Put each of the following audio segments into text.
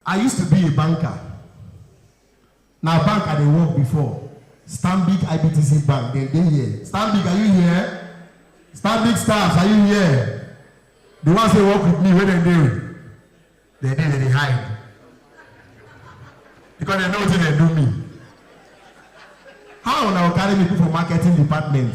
I used to be a banker, na bank I dey work before, Stanbic IBTC Bank dem dey here, Stanbic are you here? Stanbic staffs are you here? The ones wey work with me where dem dey? Dem dey dem dey hide because dem know wetin dem do me. How una go carry me put for marketing department?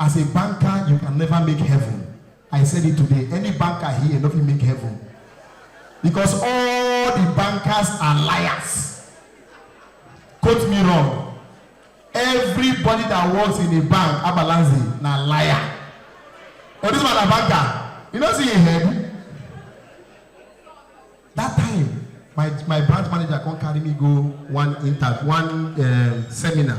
As a banker you can never make heaven I said it today any banker here no fit make heaven because all the bankers are liars quote me wrong everybody that works in a bank abalanzi na liar but this man na banker you no see him head that time my my branch manager come carry me go one inter one um, seminar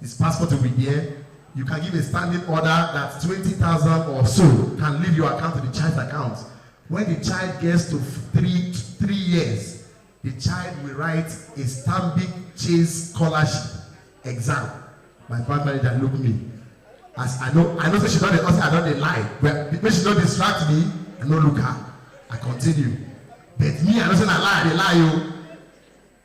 His passport will be there. You can give a standing order that 20,000 or so can leave your account to the child's account. When the child gets to three, three years, the child will write a Stanbic Chase scholarship exam. My bank manager look me. As I know, I know say she don dey hustle, I don dey lie. But make she no distract me, I no look her. I continue. But me, I know say na lie I dey lie o.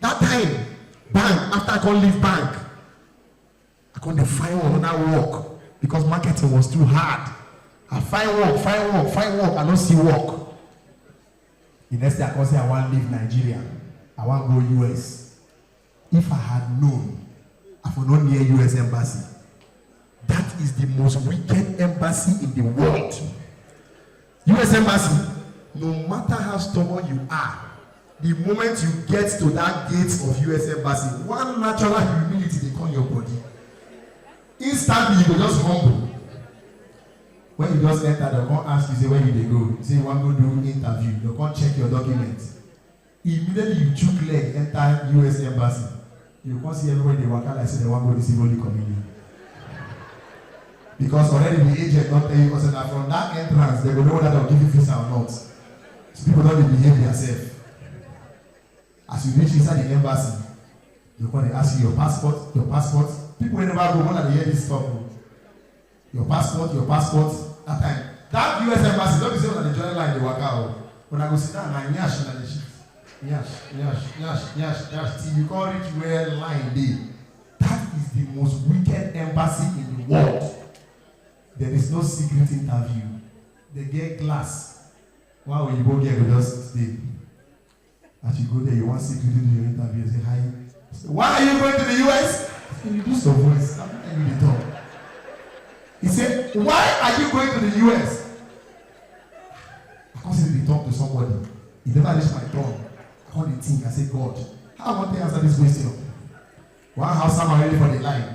That time, bank, after I come leave bank, I come dey find another work because marketing was too hard. I find work, find work, find work, I no see work. The next day I come say I wan leave Nigeria, I wan go US. If I had known, I for no near US embassy. That is the most wicked embassy in the world. us embassy no matter how stubborn you are the moment you get to that gate of us embassy one natural humility dey come your body instantly you go just humble when you just enter dem come ask you say where you dey go say you wan go do interview dem come check your document Immediately you chook leg enter US embassy, you come see everybody dey waka like say dem wan go receive Holy Communion. Because already the agent don tell you because na from that entrance dem go know whether dem give you visa or not. So people don dey behave theirself. As you reach inside the embassy, dem come dey ask you your passport, your passport. People wey never go, when I dey hear this talk o, your passport your passport that time that us embassy no be say una dey join line dey waka o una go sit down na nyash una dey shit nyash nyash nyash nyash nyash till you come reach where line dey that is the most wicked embassy in the world there is no secret interview they get glass one oyibo girl go just dey. As you go there, you wan see you do your interview, say hi. Say, Why are you going to the US? Say, you do some voice, I'm not you dey talk. He said, Why are you going to the US? I come say dey talk to somebody. He never reach my door. I come dey think, I say, God, how I wan take answer this question? One Hausa man ready for the line.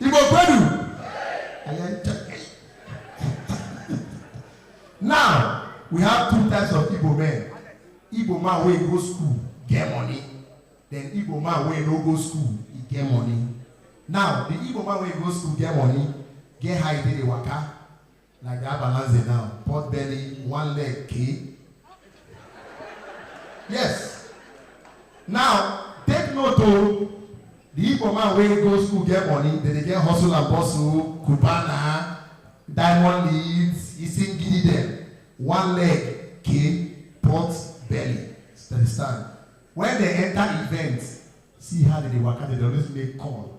Igbo kwenu anyị ncha now we have two types of Igbo men Igbo man wey go school get money then Igbo man wey no go school e get money now the Igbo man wey go school get money get how e dey dey waka Like that balanze now, pot belly, one leg, key. Yes. Now, take note o, the Igbo man wey go school get money, dem dey get hustle and bustle, Cubana, diamond leads, he sing gidi dem, one leg, key, pot belly, stand stand. When dem enter event, see how dem dey waka, dem dey always make call.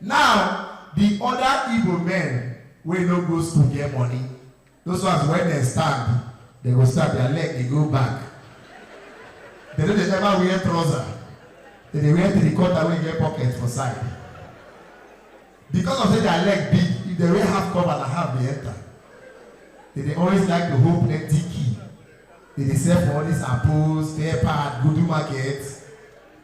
Now, di oda Igbo men wey no go school get money, those ones wen dem stand, dem go stand, dia leg dey go back. Dem no dey ever wear trouser, dem dey wear three quarter wey get pocket for side. Because of sey dia leg big, if dem wear half cover na half dey enter. Dem dey always like to hold plenty key, dem dey sell for all dis Apos, Fair Part, Gudu Market,